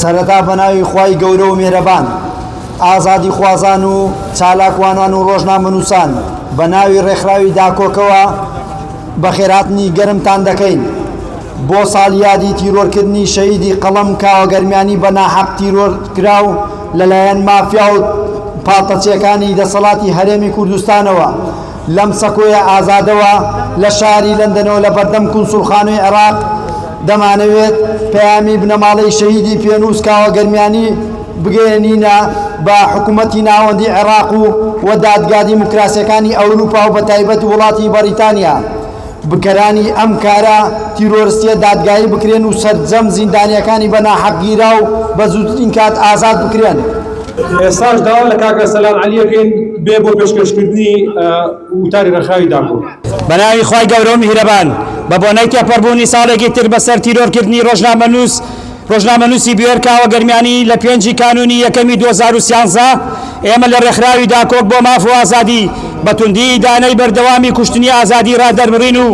سەرەتا بەناوی خوای گەورە و مێرەبان ئازادی خوازان و چالاکوانان و ڕۆژنامەنووسان بە ناوی ڕێکخراوی داکۆکەوە بەخێراتنی گەرمتان دەکەین بۆ ساڵیادی تیرۆرکردنی شەهیدی قەڵەم کاوەگەرمیانی بە ناحەق تیرۆر کراو لەلایەن مافیا و پاڵتەچیەکانی دەسەڵاتی هەرێمی کوردستانەوە لەم سەکۆیە ئازادەوە لە شاری لەندەنەوە لە بەردەم کونسوڵخانەی عێراق دەمانەوێت پەیامی بنەماڵەی شەهیدی پێنووس کاوە گەرمیانی بگەیەنینە بە حکوومەتی ناوەندی عێراق و و دادگا دیموکراسییەکانی ئەورووپا و بەتایبەت وڵاتی بەڕیتانیا. بکەرانی ئەم کارە تیرۆرستیە دادگایی بکرێن و سەرجەم زیندانیەکانی بە ناحەق گیراو بە زووترین کات ئازاد بکرێن. ئێستاش داوا لە کاک ئەرسەلان عەلی ئەکەین بێ بۆ پێشکەشکردنی وتاری ڕێکخراوی داپۆ. بەناوی خوای گەورە و میهرەبان بەبۆنەی تێپەڕبوونی ساڵێکی تر بەسەر تیرۆرکردنی ڕۆژنامەنووس، ڕۆژنامەنووسی بوێر کاوە گەرمیانی لە پێنج ی کانوونی یەکەمی دوو هەزار و سیانزە، ئێمە لە ڕێکخراوی داکۆک بۆ ماف و ئازادی بە توندی ئیدانەی بەردەوامی کوشتنی ئازادی ڕادەربڕین و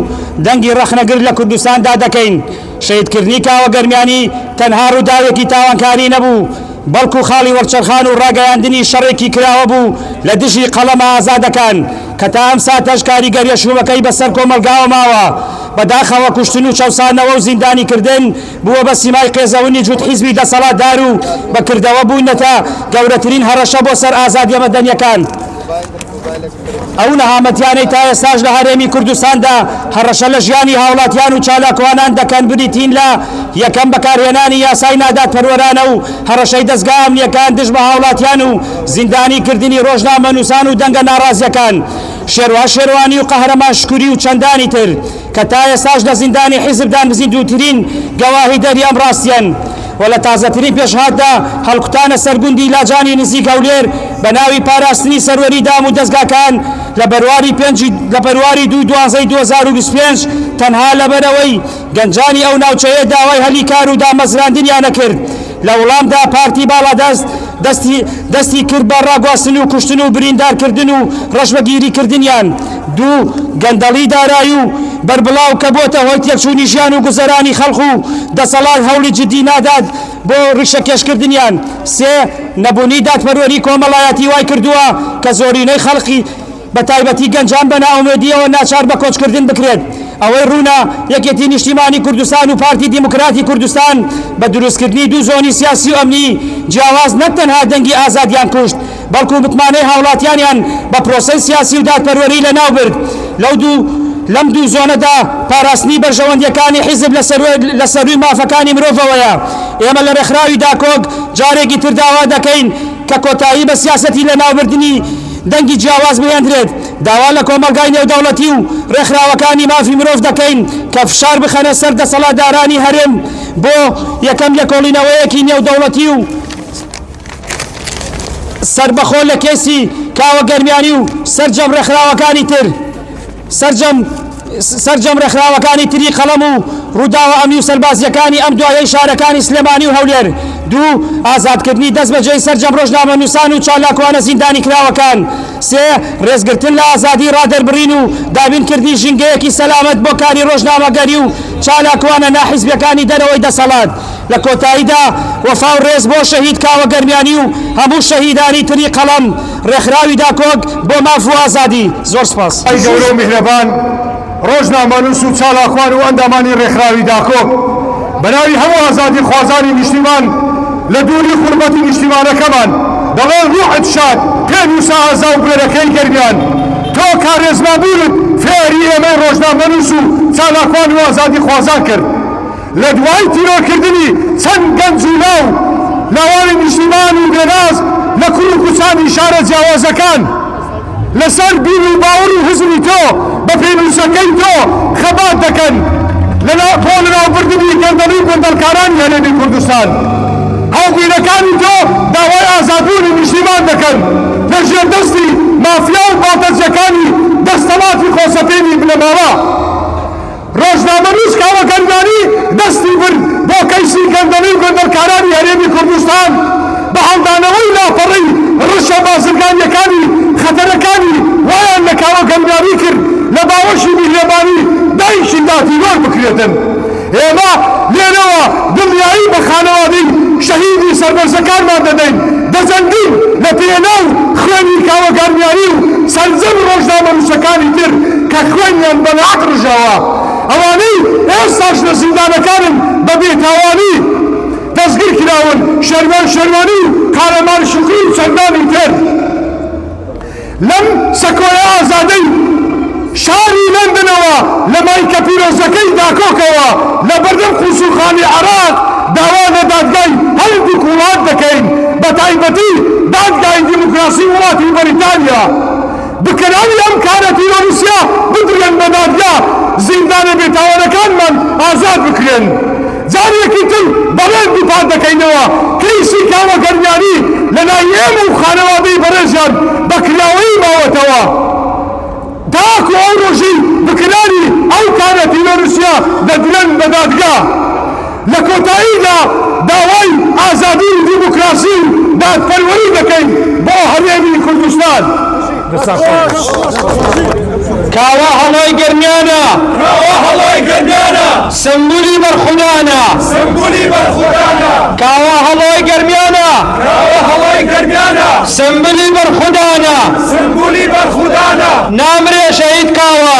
دەنگی ڕەخنەگر لە کوردستاندا دەکەین. شەهیدکردنی کاوە گەرمیانی تەنها ڕووداوێکی تاوانکاری نەبوو، بەڵکو خاڵی وەرچەرخان و ڕاگەیاندنی شەڕێکی کراوە بوو لە دژی قەڵەمە ئازادەکان کە تا ئەم ساتەش کاریگەریشوومەکەی بەسەر کۆمەڵگاوە ماوە. بەداخەوە کوشتن و چەوسانەوە و زیندانیکردن، بووە بە سیمای قێزەونی جووت حیزبی دەسەڵاتدار و بە کردەوە بوونەتە گەورەترین هەڕەشە بۆ سەر ئازادییە مەدەنییەکان. ئەو نەهامەتیانەی تا ئێستاش لە هەرێمی کوردستاندا هەڕەشە لە ژیانی هاوڵاتیان و چالاکوانان دەکەن بریتین لە، یەکەم بەکارهێنانی یاسای نادادپەروەرانە و هەڕەشەی دەزگا ئەمنییەکان دژ بە هاوڵاتیان و زیندانی کردنی ڕۆژنامەنووسان و دەنگە ناڕازییەکان شێروان شێروانی و قەهرەمان شکوری و چەندانی تر. کە تا ئێستاش لە زیندانی حیزب دانبزیندووترین گەواهیدەری ئەم ڕاستیەن و لە تازەترین پێشهاتدا هەڵکوتانە سەر گوندی لاجانی نزیک هەولێر بە ناوی پاراستنی سەروەری دام و دەزگاکان لە بەرواری پێنج لە بەرواری دووی دوازدەی دوو هەزار و بیست و پێنج تەنها لەبەرئەوەی گەنجانی ئەو ناوچەیە داوای هەلی کار و دامەزراندنیانە کرد لە وڵامدا پارتی باڵادەست دەستی دەستی کرد بە ڕاگواستن و کوشتن و بریندارکردن و ڕەشبەگیریکردنیان دوو گەندەڵی دارایی و بەربڵاو کە بۆتە هۆی تێکچوونی ژیان و گوزەرانی خەڵق و دەسەڵات هەوڵی جددی نادات بۆ ڕیشەکێشکردنیان سێ نەبوونی دادپەروەری کۆمەڵایەتی وای کردووە کە زۆرینەی خەڵقی بە تایبەتی گەنجان بە نائومێدییەوە ناچار بە کۆچکردن بکرێت. ئەوەی ڕوونە، یەکێتی نیشتیمانی کوردستان و پارتی دیموکراتی کوردستان بە دروستکردنی دوو زۆنی سیاسی و ئەمنی جیاواز نەک تەنها دەنگی ئازادیان کوشت، بەڵکو متمانەی هاوڵاتیانیان بە پرۆسەی سیاسی و دادپەروەری لەناوبرد. لەو دوو لەم دوو زۆنەدا پاراستنی بەرژەوەندییەکانی حیزب لە لە سەرووی مافەکانی مرۆڤەوەیە. ئێمە لە ڕێکخراوی داکۆک جارێکی تر داوا دەکەین کە کۆتایی بە سیاسەتی لەناوبردنی. دەنگی جیاواز بهێندرێت، داوا لە کۆمەڵگای نێودەوڵەتی و ڕێکخراوەکانی مافی مرۆڤ دەکەین کە فشار بخەنە سەر دەسەڵاتدارانی هەرێم بۆ یەکەم لێکۆڵینەوەیەکی نێودەوڵەتی و سەربەخۆ لە کەیسی کاوە گەرمیانی و سەرجەم ڕێکخراوەکانی تر. سەرجەم سەرجەم ڕێکخراوەکانی تری قەڵەم و ڕووداوە ئەمنی و سەربازییەکانی ئەم دوایەی شارەکانی سلێمانی و هەولێر دوو، ئازادکردنی دەستبەجێی سەرجەم ڕۆژنامەنووسان و چالاکوانە زیندانیکراوەکان سێ، ڕێزگرتن لە ئازادیی ڕادەربڕین و دابینکردنی ژینگەیەکی سەلامەت بۆ کاری ڕۆژنامەگەری و چالاکوانە ناحیزبییەکانی دەرەوەی دەسەڵات. لە کۆتاییدا وەفا و ڕێز بۆ شەهید کاوە گەرمیانی و هەموو شەهیدانی تری قەڵەم. ڕێکخراوی داکۆک بۆ ماف و ئازادی، زۆر سپاس. خوای گەورە و میهرەبان ڕۆژنامەنووس و چالاکوان و ئەندامانی ڕێکخراوی داکۆک بە ناوی هەموو ئازادی خوازانی نیشتیمان لە دووری خورمەتی نیشتیمانەکەمان دەڵێن ڕوحت شاد پێنووسە ئازا و بوێرەکەی گەرمیان تۆ کارێزما بوونت فێری ئێمەی ڕۆژنامەنووس و چالاکوان و ئازادی خوازان کرد لە دوای تیرۆرکردنی چەند گەنج و لاو لاوانی نیشتیمان و بێناز لە کوڕ و کچانی شارە جیاوازەکان لەسەر بیر و باوەڕ و هزری تۆ بە پێنووسەکەی تۆ خەبات دەکەن لەناو بۆ لەناوبردنی گەندەڵی گەندەڵکارانی هەرێمی کوردستان هاوبیرەکانی تۆ داوای ئازادبوونی نیشتیمان دەکەن لە ژێر دەستی مافیا و باڵتەجەکانی دەستەڵاتی خۆسەپێنی بنەماڵە ڕۆژنامەنووس کاوە گەنگانی دەستی برد بۆ کەیسی گەندەڵی گوندەرکارانی هەرێمی کوردستان بە هەڵدانەوەی لاپەڕەی ڕشە بازرگانیەکانی خەتەرەکانی وایان لە کاوە گەنگانی کرد لە باوەشی میهرەبانی دایکی دادیوەر بکرێتن ئێمە لێرەوە دڵنیایی بە خانەوادەی شەهیدی سەربەرزەکانمان دەدەین دەجەنگین لە پێناو خوێنی کاوە گەنگانی و سەرجەم ڕۆژنامەنووسەکانی تر کە خوێنیان بە ڕژاوە، ئەوانەی ئێستاش لە زیندانەکانن بە بێتاوانی دەستگیر کراون، شەرمێن شەرمانی و قارەمان شوکری و چەندانی تر لەم سەکۆیە ئازادەی شاری لەندەنەوە لە مایکە پیرۆزەکەی داکۆکەوە لە بەردەم قونسوڵخانەی عێراق داوا لە دادگای هەردووک وڵات دەکەین بە تایبەتی دادگای دیموکراسی وڵاتی بەریتانیا بکەرانی ئەم کارە تیرۆریستیە بدرێن بە دادگا زیندانە بێتاوانەکانمان ئازاد بکرێن جاریەکی تر بەڕێز دووپات دەکەینەوە کەیسی کاوە گەرمیانی لەلای ئێمە و خانەوادەی بەڕێزیان بە کراوەیی ماوەتەوە تاکو ئەو ڕۆژەی بکەرانی ئەو کارە تیرۆریستیە دەدرێن بە دادگا. لە کۆتاییدا داوای ئازادی و دیموکراسی و دادپەروەری دەکەین بۆ هەرێمی کوردستان. کاوە هەڵۆی گەرمیانە. کاوە هەڵۆی گەرمیانە. سمبولی بەرخودانە. سمبولی بەرخودانە. کاوە هەڵۆی گەرمیانە. کاوە هەڵۆی گەرمیانە. سمبلی بەرخودانە. سمبولی بەرخودانە. نامرێ شەهید کاوە.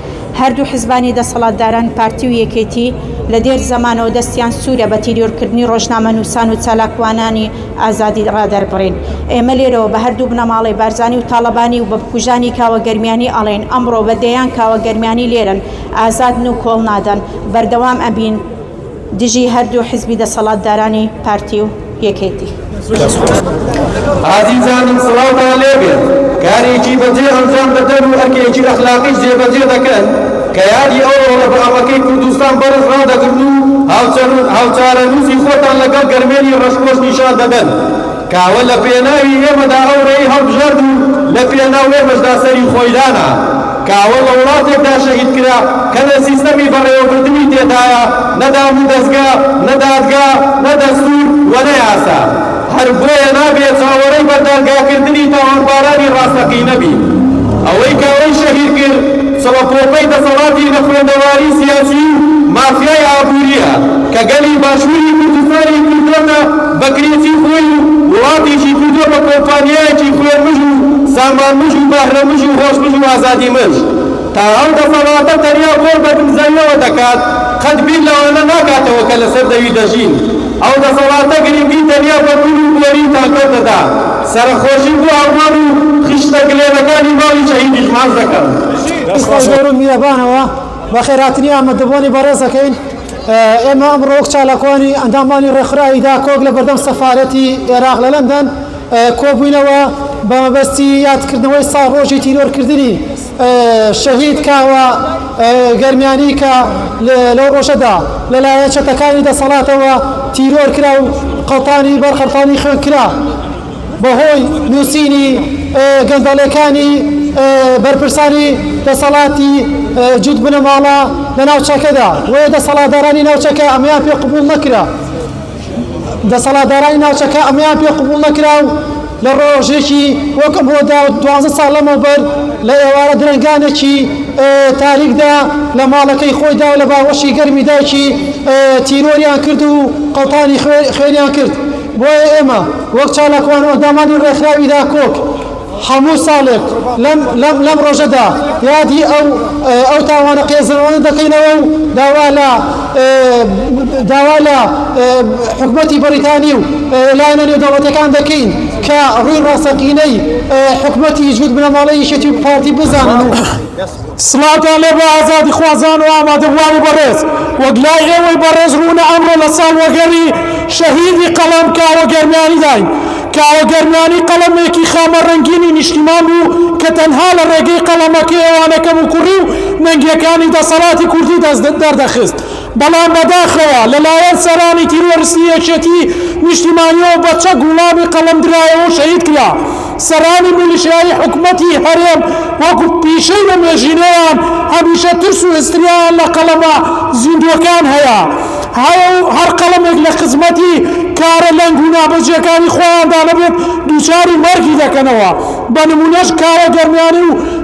هەردوو حزبانی دەسەڵاتداران پارتی و یەکێتی لە دێر زەمانەوە دەستیان سوورە بە تیریۆرکردنی ڕۆژنامەنووسان و چالاکوانانی ئازادی ڕادەربڕین. ئێمە لێرەوە بە هەردوو بنەماڵەی بارزانی و تاڵەبانی و بە بکوژانی کاوە گەرمیانی ئەڵێین ئەمڕۆ بە دەیان کاوە گەرمیانی لێرەن، ئازادن و کۆڵنادەن. بەردەوام ئەبین. دژی هەردوو حزبی دەسەڵاتدارانی پارتی و یەکێتی. ئازیزانم سڵاوتان لێ بێت، کارێکی بەجێ ئەنجام دەدەن و ئەرکێکی ئەخلاقیش جێبەجێ دەکەن کە یادی ئەو ڕۆڵە بەئەڕەکەی کوردستان بەڕز ڕادەگرن و هاوچەرخ و هاوچارەنووسی خۆتان لەگەڵ گەرمێنی ڕەشپۆش نیشان دەدەن. کاوە لە پێناوی ئێمەدا ئەو رێی هەڵبژارد و لە پێناو ئێمەشدا سەری خۆی دانا. کاوە لە وڵاتێکدا شەهید کرا کە نە سیستەمی بەڕێوەبردنی تێدایە، نە دامودەزگا، نە دادگا، نە دەستور و نە یاسا. هەر بۆیە نابێ چاوەڕێی بەردادگاکردنی تاوانبارانی راستەقینە بین. ئەوەی کاوەی شەهید کرد چڵەپۆپەی دەسەڵاتی نەخوێندەواری سیاسی و مافیای ئابورییە کە گەلی باشوری کوردستانی کردۆتە بەکرێتی خۆی و وڵاتیشی کردووە بە کۆمپانیایەکی خوێنمژ و سامانمژ و بەهرەمژ و هۆشمژ و ئازادیمژ. تا ئەو دەسەڵاتە تەنیا خۆی بە دمزەییەوە دەکات، قەت بیر لەوانە ناکاتەوە کە لەسەر زەوی دەژین. ئەو دەسەڵاتە گرنگی تەنیا بە گول و بۆری و تانکەر دەدا. سەرەخۆشی بۆ ئەڵمان و خشتە گلێنەکانی ماڵی شەهیدیش ماچ دەکەم. دەست خۆش. لە رووی میهرەبانەوە بەخێرهاتنی ئامادەبووانی بەڕێز دەکەین. ئێمە ئەمڕۆ وەک چالاکوانی ئەندامانی ڕێکخراوی داکۆک لە بەردەم سەفارەتی ئێراق لە لەندەن کۆبووینەوە بە مەبەستی یادکردنەوەی ساڵ ڕۆژی تیرۆرکردنی شەهید کاوە گەرمیانی کە لەو ڕۆژەدا لەلایەن چەتەکانی دەسەڵاتەوە تیرۆر کرا و قەڵتانی بەر قەڵتانی خوێن کرا بەهۆی نووسینی گەندەڵیەکانی بەرپرسانی دەسەڵاتی جوت بنەماڵە لە ناوچەکەدا وەیە دەسەڵاتدارانی ناوچەکە ئەمەیان پێ قبوڵ نەکرا دەسەڵاتدارانی ناوچەکە ئەمەیان پێ قبوڵ نەکرا و لە ڕۆژێکی وەک ئەمڕۆدا و دوازدە ساڵ لەمەوبەر لە ئێوارە درەنگانێکی تاریکدا لە ماڵەکەی خۆیدا و لە باوەشی گەرمی دایکی تیرۆریان کرد و قەڵتانی خوێنیان کرد بۆیە ئێمە وەک چالاکوان ئەندامانی ڕێکخراوی داکۆک هەموو ساڵێک لەم ڕۆژەدا یادی ئەو ئەو تاوانە قێزەوانە دەکەینەوە و داوا لە داوا لە حکومەتی بەریتانی و لایەنە نێودەوڵەتەکان دەکەین کە ڕووی ڕاستەقینەی حکومەتی جوود بنەماڵەی یەکێتی و پارتی بزانن و سڵاوتان لێ بێ ئازادیخوازان و ئامادەبووانی بەڕێز، وەک لای ئێوەی بەڕێز ڕوونە ئەمڕۆ لە ساڵوەگەڕی شەهیدی قەڵەم کاوە گەرمیانیداین. کاوە گەرمیانی قەڵەمێکی خامە ڕەنگینی نیشتیمان بوو کە تەنها لە ڕێگەی قەڵەمەکەیەوە نەکەموکوڕی و نەنگییەکانی دەسەڵاتی کوردی دەست دەردەخست. بەڵام بەداخەوە لەلایەن سەرانی تیرۆرستی یەکێتی نیشتیمانیەوە بە چەک وڵامی قەڵەم درایەوەو شەهید کرا، سەرانی میلیشیایی حکومەتی هەرێم وەکو پیشەی لە مێژینەیان هەمیشە ترس و هستریایان لە قەڵەمە زیندووەکان هەیە هەیە و هەر قەڵەمێک لە خزمەتی کارە لەنگ و نابەجێکانی خۆیاندا نەبێت دووچاری مەرگی دەکەنەوە بە نمونەش کارە گەرمیانی و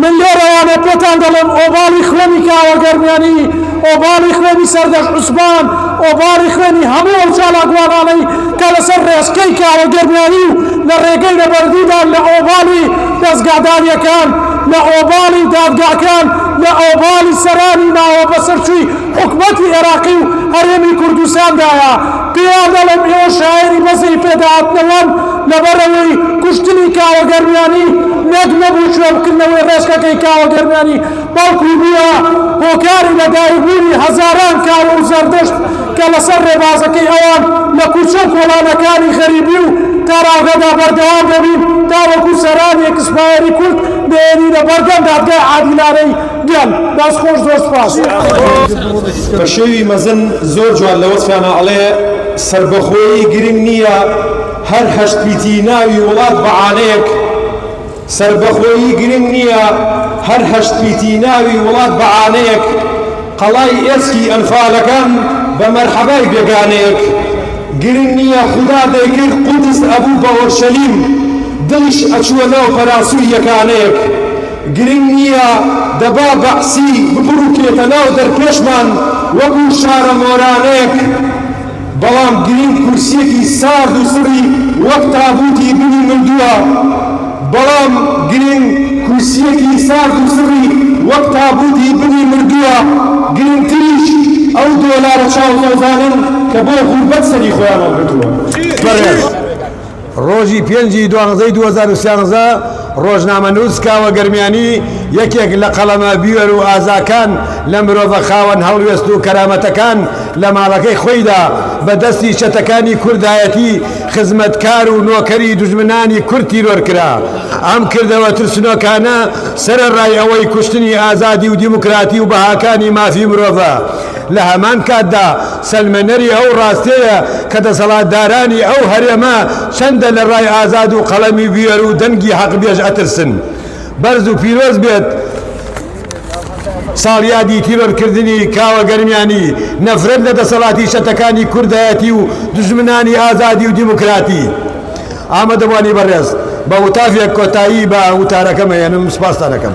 من لێرەوانە پێتان دەڵێم ئۆباڵی خوێنی کاوە گەرمیانی، ئۆباڵی خوێنی سەردەشت عوسمان، ئۆباڵی خوێنی هەموو ئەو چالاکوانانەی کە لەسەر ڕێچکەی کاوە گەرمیانی و لە ڕێگەی نەبەردیدان لە ئۆباڵی دەزگاداریەکان، لە ئۆباڵی دادگاکان، لە ئۆباڵی سەرانی ماوە بەسەرچووی حکومەتی ئێراقی و هەرێمی کوردستاندایە، پێیان دەڵێم ئێوە شایەنی بەزەی پێداهاتنەوەن لەبەرئەوەی کوشتنی کاوە گەرمیانی نەک نەبوو جوێنبکردنەوەی ڕێچکەکەی کاوە گەرمیانی بەڵکو بووە هۆکاری لەدایکبوونی هەزاران کاوە و زەردەشت کە لەسەر ڕێبازەکەی ئەوان لە کوچە و کۆڵانەکانی غەریبی و تاراوگەدا بەردەوام دەبین تاوەکو سەرانی ئێکسپایەری کورد بهێنینە بەردەم دادگای عادیلانەی گیان دەست خۆش زۆر سوپاس. بە شێوی مەزن زۆر جوان لە وەسفیانا ئەڵێ سەربەخۆیی گرنگ نییە هەر هەشت پیتی ناوی وڵات بە عانەیەک سەربەخۆیی گرنگ نییە هەر هەشت پیتی ناوی وڵات بە عانەیەک قەڵای ئێسکی ئەنفالەکان بە مەرحەبای بێگانەیەک گرنگ نییە خودا دەیکرد قودس ئەبوو بە ئۆرشەلیم دڵیش ئەچووە ناو پەراسووی یەکانەیەک گرنگ نییە دەبا بەعسی ببڕووکێتە ناو دەرپێشمان وەکو شارە مۆرانێک، بەڵام گرنگ کورسییەکی سارد و سڕی وەک تابووتی بنی مردووە، بەڵام گرنگ کورسییەکی سارد و سڕی وەک تابووتی بنی مردووە، گرنگتریش ئەو دۆلارە چاوتۆزانەن کە بۆ غوربەت سەری خۆیان هەڵگرتووە. بەڕێز. ڕۆژی پێنج ی دوانزەی دوو هەزار و سیانزە، ڕۆژنامەنووس کاوە گەرمیانی، یەکێک لە قەڵەمە بوێر و ئازاکان لە مرۆڤە خاوەن هەڵوێست و کەرامەتەکان لە ماڵەکەی خۆیدا بە دەستی چەتەکانی کوردایەتی خزمەتکار و نۆکەری دوژمنانی کورد تیرۆر کرا. ئەم کردەوە ترسنۆکانە سەرەڕای ئەوەی کوشتنی ئازادی و دیموکراتی و بەهاکانی مافی مرۆڤە، لە هەمان کاتدا سەلمێنەری ئەو ڕاستیەیە کە دەسەڵاتدارانی ئەو هەرێمە چەندە لە ڕای ئازاد و قەڵەمی بوێر و دەنگی حەقبێژ ئەترسن. بەرز و پیرۆز بێت ساڵیادی تیرۆرکردنی کاوە گەرمیانی، نەفرەت لە دەسەڵاتی چەتەکانی کوردایەتی و دوژمنانی ئازادی و دیموکراتی. ئامادەبوانی بەڕێز بە وتافێک کۆتایی بە وتارەکەم ئەهێنم سوپاستان ئەکەم.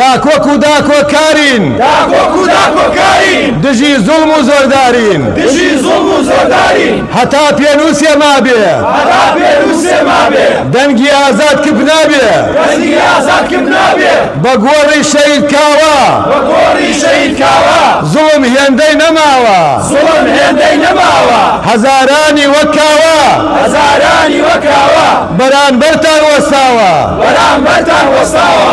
داکۆک و داکۆکارین. داکۆک و داکۆکارین. دژی زوڵم و زۆردارین. دژی زوڵم و زۆردارین. هەتا پێنووسێ مابێ. هەتا پێنووسێ مابێ. دەنگی ئازاد کپ نابێ. دەنگی ئازاد کپ نابێ. بە گۆڕی شەهید کاوە. بە گۆڕی شەهید کاوە. زوڵم هێندەی نەماوە. زوڵم هێندەی نەماوە. هەزارانی وەک کاوە. هەزارانی وەک کاوە. بەرانبەرتان وەستاوە. بەرانبەرتان وەستاوە.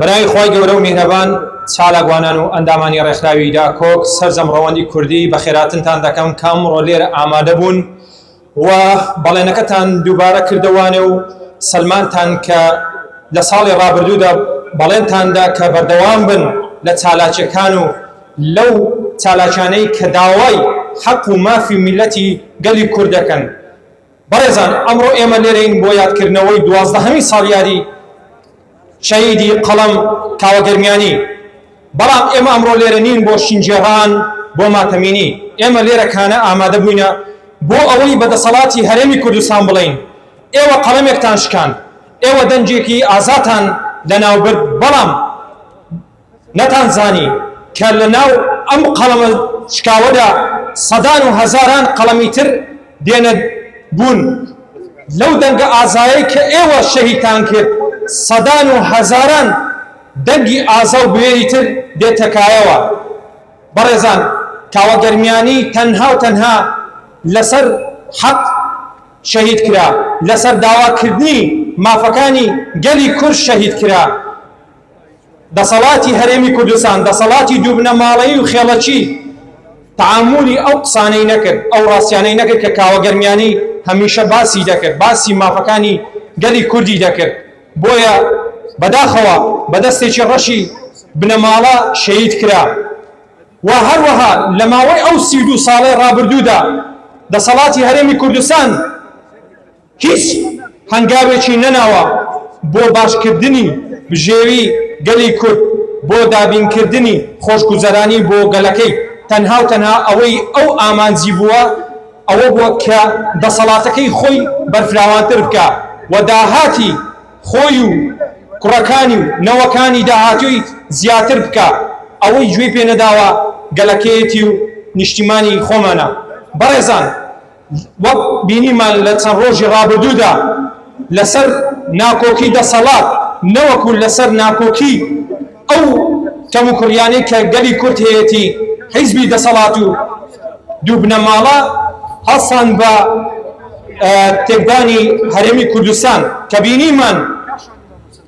برای خوای گەورەو میهرەبان چالاکوانان و ئەندامانی ڕێکخراوی داکۆک سەرجەم ڕەوەندی کوردی بەخێراتنتان دەکەم کە ئەمڕۆ لێرە ئامادەبوون و بەڵێنەکەتان دووبارە کردەوانێ و سەلماندتان کە لە ساڵی ڕابردوودا بەڵێنتان دا کە بەردەوام بن لە چالاکیەکان و لەو چالاکیانەی کە داوای حەق و مافی میللەتی گەلی کورد دەکەن. بەڕێزان ئەمڕۆ ئێمە لێرەین بۆ یادکردنەوەی دوازدەهەمین ساڵیادی شەهیدی قەڵەم کاوە گەرمیانی، بەڵام ئێمە ئەمڕۆ لێرە نین بۆ شینگێڕان، بۆ ماتەمینی، ئێمە لێرە کانە ئامادە بووینە بۆ ئەوەی بە دەسەڵاتی هەرێمی کوردستان بڵێین ئێوە قەڵەمێکتان شکاند، ئێوە دەنگێکی ئازاتان لەناوبرد، بەڵام. نەتان زانی کە لە ناو ئەم قەڵەمە شکاوەدا سەدان و هەزاران قەڵەمی تر دێنە بوون لەو دەنگە ئازایەی کە ئێوە شەهیدتان کرد سەدان و هەزاران دەنگی ئازا و بوێری تر دێتە کایەوە بەڕێزان کاوە گەرمیانی تەنها و تەنها لەسەر حەق شەهید کرا لەسەر داواکردنی مافەکانی گەلی کورد شەهید کرا دەسەڵاتی هەرێمی کوردستان دەسەڵاتی دووبنەماڵەیی و خێڵەکی تەعامولی ئەو قسانەی نەکرد، ئەو ڕاستیانەی نەکرد کە کاوە گەرمیانی هەمیشە باسی دەکرد، باسی مافەکانی گەلی کوردی دەکرد، بۆیە بەداخەوە بە دەستێکی ڕەشی بنەماڵە شەهید کرا و هەروەها لە ماوەی ئەو سی و دوو ساڵەی ڕابردوودا دەسەڵاتی هەرێمی کوردستان هیچ هەنگاوێکی نەناوە بۆ باشکردنی بژێوی گەلی کورد، بۆ دابینکردنی خۆشگوزەرانی بۆ گەلەکەی، تەنها و تەنها ئەوەی ئەو ئامانجی بووە ئەوە بووە کە دەسەڵاتەکەی خۆی بەرفراوانتر بکا و داهاتی خۆی و کوڕەکانی و نەوەکانی داهاتووی زیاتر بکا، ئەوەی گوێی پێ نەداوە گەلەکەیەتی و نیشتیمانی خۆمانە بەڕێزان. وەک بینیمان لە چەند ڕۆژی ڕابردوودا لەسەر ناکۆکی دەسەڵات نەوەکو لەسەر ناکۆکی ئەو کەموکوڕیانەی کە گەلی کورد هەیەتی حیزبی دەسەڵات و دوو بنەماڵە هەڵسان بە تێکدانی هەرێمی کوردستان کە بینیمان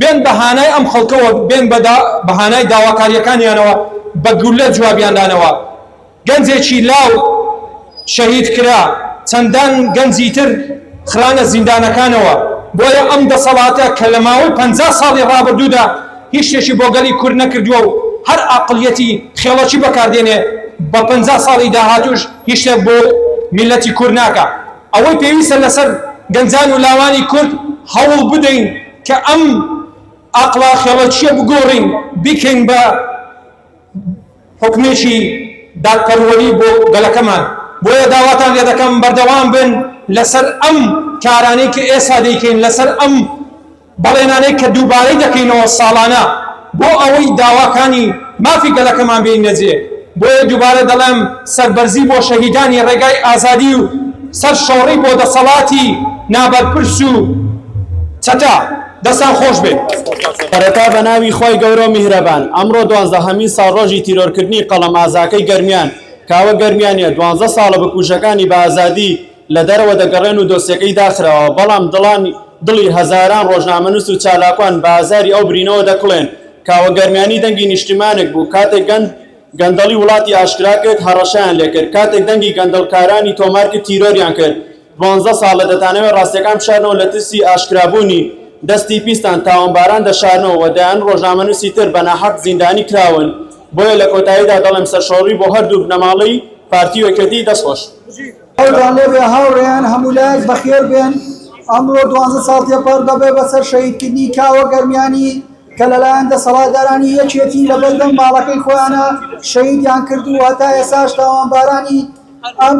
بێن بە هانای ئەم خەڵکەوە بێن بە دا بە هانای داواکاریەکانیانەوە بە گوللە جوابیان دانەوە گەنجێکی لاو شەهید کرا چەندان گەنجی تر خرانە زیندانەکانەوە بۆیە ئەم دەسەڵاتە کە لە ماوەی پەنجا ساڵی ڕابردوودا هیچ شتێکی بۆ گەلی کورد نەکردووە و هەر ئاقڵیەتی خێڵەکی بەکاردێنێ بە پەنجا ساڵی داهاتووش هیچ شتێک بۆ میللەتی کورد ناکا. ئەوەی پێویستە لەسەر گەنجان و لاوانی کورد هەوڵ بدەین کە ئەم ئاقڵا خێڵەکییە بگۆڕین بیکەین بە حوکمێکی دادپەروەری بۆ گەلەکەمان، بۆیە داواتان لێ دەکەم بەردەوام بن لەسەر ئەم کارانەی کە ئێستا دەیکەین لەسەر ئەم. بەڵێنانەی کە دووبارەی دەکەینەوە ساڵانە بۆ ئەوەی داواکانی مافی گەلەکەمان بێینە جێ، بۆیە دووبارە دەڵێم سەربەرزی بۆ شەهیدانی ڕێگای ئازادی و سەر شۆڕی بۆ دەسەڵاتی نابەرپرس و چەتە. دەستان خۆش بێت. سەرەتا بە ناوی خوای گەورە و میهرەبان ئەمڕۆ دوازدە هەمین ساڵڕۆژی تیرۆرکردنی قەڵەم ئازاکەی گەرمیان کاوە گەرمیانیە دوازدە ساڵە بکوژەکانی بە ئازادی لە دەرەوە دەگەڕێن و دۆسیەکەی داخراوە، بەڵام دڵانی دڵی هەزاران ڕۆژنامەنووس و چالاکوان بە ئازاری ئەو برینەوە دەکوڵێن. کاوە گەرمیانی دەنگی نیشتیمانێک بوو، کاتێک گەند گەندەڵی وڵاتی ئاشکرا کرد، هەڕەشەیان لێ کرد، کاتێک دەنگی گەندەڵکارانی تۆمار کرد، تیرۆریان کرد. دوانزە ساڵە دەتانەوێ ڕاستییەکان بشارنەوە، لە ترسی ئاشکرابوونی دەستی پیستان تاوانباران دەشارنەوە و دەیان ڕۆژنامەنووسی تر بە ناحەق زیندانی کراون. بۆیە لە کۆتاییدا دەڵێم سەرشۆڕی بۆ هەردوو بنەماڵەی پارتی و یەکێتی. دەستخۆش. خۆتان لێ بێ هاوڕێیان هەموو لایەک بەخێر بێن ئەمڕۆ دوانزە ساڵ تێپەر دەبێ بەسەر شەهیدکردنی کاوە گەرمیانی کە لەلایەن دەسەڵاتدارانی یەکێتی لە بەردەم ماڵەکەی خۆیانە شەهیدیان کرد و هەتا ئێساش تاوانبارانی ئەم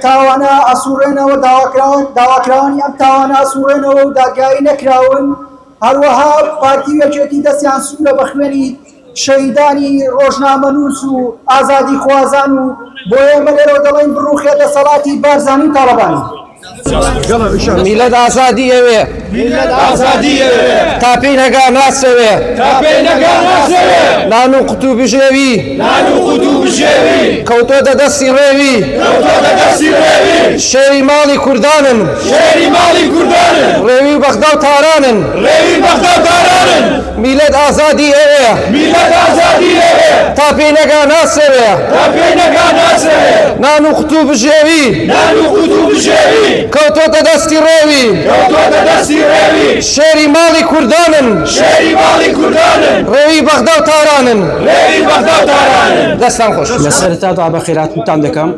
تاوانە ئەسوڕێنەوە داواکراوە داواکراوانی ئەم تاوانە ئەسوڕێنەوە و دادگایی نەکراون هەروەها پارتی و یەکێتی دەستیان سوورە بە خوێنی شەهیدانی ڕۆژنامەنووس و ئازادیخوازان و بۆ ئێمە لێرەوە دەڵێن بڕووخێ دەسەڵاتی بارزانی و تاڵەبانی. میلەت ئازادی ئەوێ تا پێی نەگا ناسەوێ نان و قوت و بژێوی کەوتۆتە دەستی ڕێوی شێری ماڵی کوردانن ڕێوی بەغدا و تارانن. میلەت ئازادی ئەوەیە. میلەت ئازادی ئەوەیە. تا پێی نەگا ناسرەوێ. تا پێی نەگا ناسرەوێ. نان و قوت و بژێوی. نان و قوت و بژێوی. کەوتۆتە دەستی ڕێوی. کەوتۆتە دەستی ڕێوی. شێری ماڵی کوردانن. شێری ماڵی کوردانن. ڕێوی بەغدا و تارانن. ڕێوی بەغدا و تارانن. دەستان خۆش. لە سەرەتادا بە خێراتنتان دەکەم.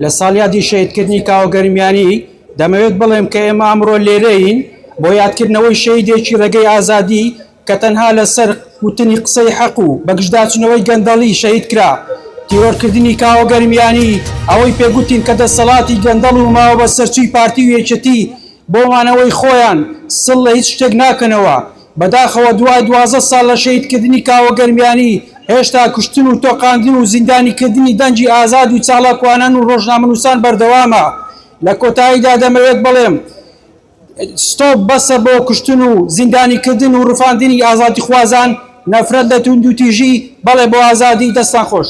لە ساڵیادی شەهیدکردنی کاوە گەرمیانی، دەمەوێت بڵێم کە ئێمە ئەمڕۆ لێرەین بۆ یادکردنەوەی شەهیدێکی رێگەی ئازادی کە تەنها لەسەر وتنی قسەی حەق و بەگژداچونەوەی گەندەڵی شەهیدکرا. تیرۆرکردنی کاوە گەرمیانی ئەوەی پێ گوتین کە دەسەڵاتی گەندەڵ و ماوەبەسەرچووی پارتی و یەکێتی بۆ مانەوەی خۆیان سڵ لە هیچ شتێک ناکەنەوە، بەداخەوە دوای دوازدە ساڵ لە شەهیدکردنی کاوە گەرمیانی، هێشتا کوشتن و تۆقاندن و زیندانیکردنی دەنگی ئازاد و چالاکوانان و ڕۆژنامەنووسان بەردەوامە. لە کۆتاییدا دەمەوێت بڵێم، ستۆپ بەسە بۆ کوشتن و زیندانیکردن و ڕفاندنی ئازادیخوازان، نەفرەت لە توندوتیژی، بەڵێ بۆ ئازادی. دەستتان خۆش.